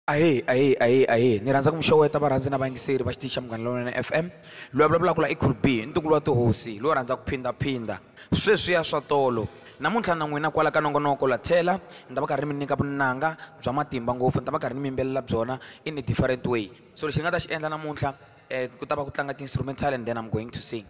Ahee ahee ahee ahee ni rhandza ku mi xeweta varhandzi na vayingiseri va xitichi xa Munghana Lonene F_M loyi a vulavulaka la i Cool B ntukulu wa tihosi loyi a rhandzaka ku phindhaphindha sweswiya swa tolo namuntlha na n'wina kwala ka nongonoko la tlhela ni ta va karhi ni mi nyika vunanga bya matimba ngopfu ni ta va karhi ni mi yimbelela byona in a different way so lexi ni nga ta xi endla namuntlha ku ta va ku tlanga ti-instrumental and then I'm going to sing.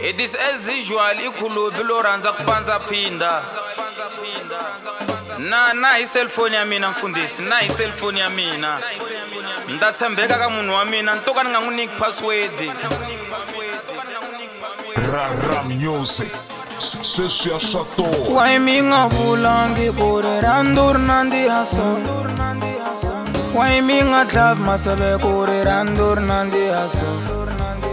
It is as usual ikhulubi lo rhandza ku pandza phinda na na hi cellphone ya mina mfundhisi na hi cellphone ya mina ni ta tshembeka ka munhu wa mina ni to ka ni nga n'wi nyiki password Rara music. Sweswi ya swa toa. Why mi nga vulangi ku ri rhandu ri nandziha so Why mi nga dlavi maseve ku ri rhandu ri nandziha so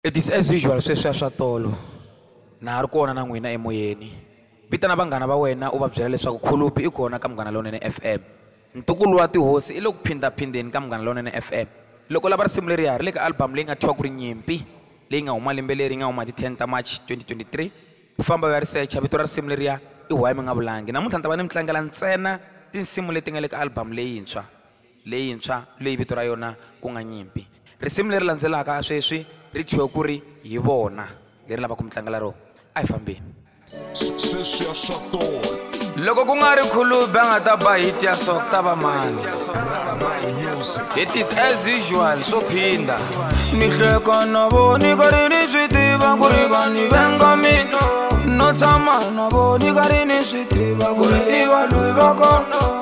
It is as usual sweswiya swa tolo. Na ha ri kona na n'wina emoyeni. Vitana vanghana va wena u va byela leswaku Khulupi i kona ka Munghana Lonene FM. Ntukulu wa tihosi i le ku phindha-phindheni ka Munghana Lonene FM. Loko u lava risimu leriya, ri le ka album leyi nga thyiwa ku ri Nyimpi, leyi nga huma lembe leri yi nga huma hi ti 10 ta March 2023. Famba u ya ri secha, vito ra risimu leriya i Why Mi Nga Vulangi. Namuntlha ni ta va ni mi tlangela ntsena tinsimu leti nga le ka album leyintshwa. leyintshwa leyi vito ra yona ku nga Nyimpi. Risimu leri landzelaka sweswi ri thyiwe ku ri Hi Vona, leri lavaka ku mi tlangela rona. A hi fambeni. Sweswiya swa tola. Loko ku nga ri Khulubi a nga ta ba hit ya so ku ta va mani? It is as usual swo phinda. Ni hleka na voni karhi ni swi tiva ku ri va ni venga mina no tshama na voni karhi ni swi tiva ku ri i valwi va kona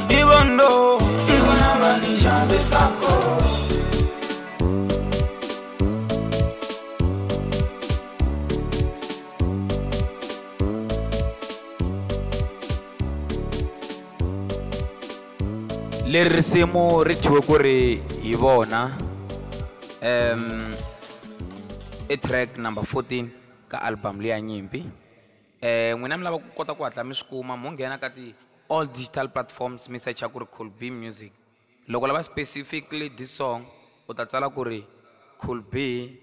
leri risimu ri thyiwe ku ri hi vona um i track number 14 ka album leya nyimpi N'wina mi lava ku kota ku hatla mi swi kuma mo nghena ka ti all digital platforms mi secha ku ri Cool B Music. Loko u lava specifically this song u ta tsala ku ri Cool B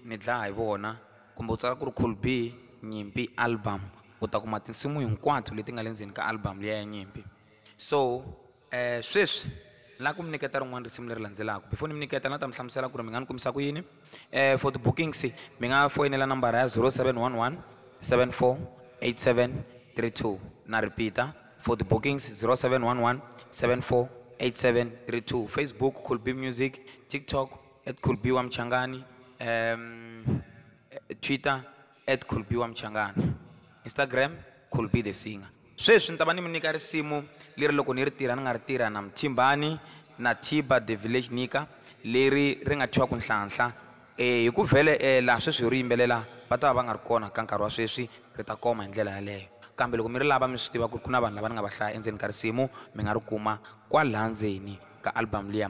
ni dlaya hi vona kumbe u tsala ku ri Cool B Nyimpi album u ta kuma tinsimu hinkwato leti nga le ndzeni ka album liya ya Nyimpi. So Sweswi ni lava ku mi nyiketa rin'wana risimu leri landzelaka. Before ni mi nyiketa ni la ta mi hlamusela ku ri mi nga ni kumisa ku yini. For ti bookings mi nga foyinela nambara ya 0711 748732 na repeat-a for ti bookings 0711 748732. Facebook Cool B Music, TikTok at Cool B Wa Mchangani, Twitter At Khulbi wa Mchangana, Instagram, Khulbi the Singer. Sweswi ni ta va ni mi nyika risimu leri loko ni ri tirha ni nga ri tirha na Mthimbani na Thiba the Village Nika leri ri nga thyiwa ku Nhlanhla. Hi ku vhele laha sweswi hi ri yimbelela va ta va va nga ri kona ka nkarhi wa sweswi, ri ta koma hi ndlela yaleyo. Kambe loko mi ri lava mi swi tiva ku ri ku na vanhu lava ni nga va hlaya endzeni ka risimu mi nga ri kuma kwalaha ndzeni ka album liya.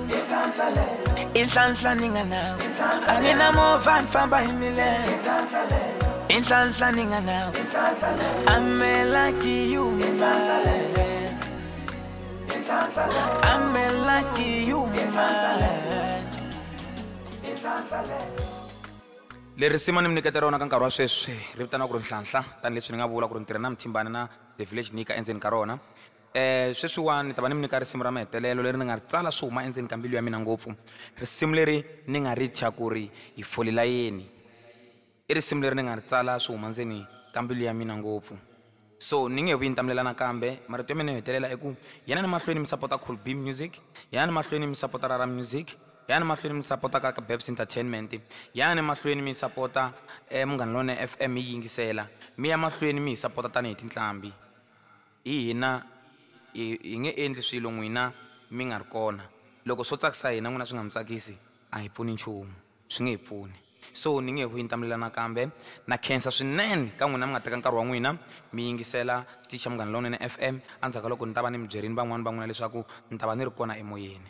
inhlanhla ni nga nawu a ni na movha ni famba hi milenge inhlanhla ni nga nawu amela kiyuma amela kiyuma leri sima ni mi nyiketa rona ka nkarhi wa sweswi ri vitana ku ri nhlanhla tanihileswi ni nga vula ku ri ni tirha na mithimbani na the village nika endzeni ka rona Sweswiwani ni ta va ni mi nyika risimu ra mahetelelo leri ni nga ri tsala swi huma endzeni ka mbilu ya mina ngopfu. Risimu leri ni nga ri thya ku ri, Hi fole layeni. I risimu leri ni nga ri tsala swi huma ndzeni ka mbilu ya mina ngopfu. So ni nge he vuyi ni ta mi lela nakambe. Marito ya mina yo hetelela i ku, yanani mahlweni mi sapota Cool Bee Music, yanani mahlweni mi sapota Rara Music, yanani mahlweni mi sapota Kaka Babs Entertainment, yanani mahlweni mi sapota Munghana Lonene F_M hi yi yingisela, mi ya mahlweni mi hi sapota tanihi tinqambi. Hi hina hi hi nge endli swilo n'wina mi nga ri kona. Loko swo tsakisa hina n'wina swi nga mi tsakisi, a hi pfuni nchumu. Swi nge hi pfuni. So ni nge hwini ta mi lela nakambe. Na khensa swinene ka n'wina mi nga teka nkarhi wa n'wina mi yingisela xitichi xa Munghana Lonene FM. Endzhaku ka loko ni ta va ni mi byerile van'wana va n'wina leswaku ni ta va ni ri kona emoyeni.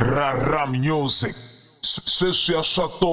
Rara Music, Sweswiya swa to.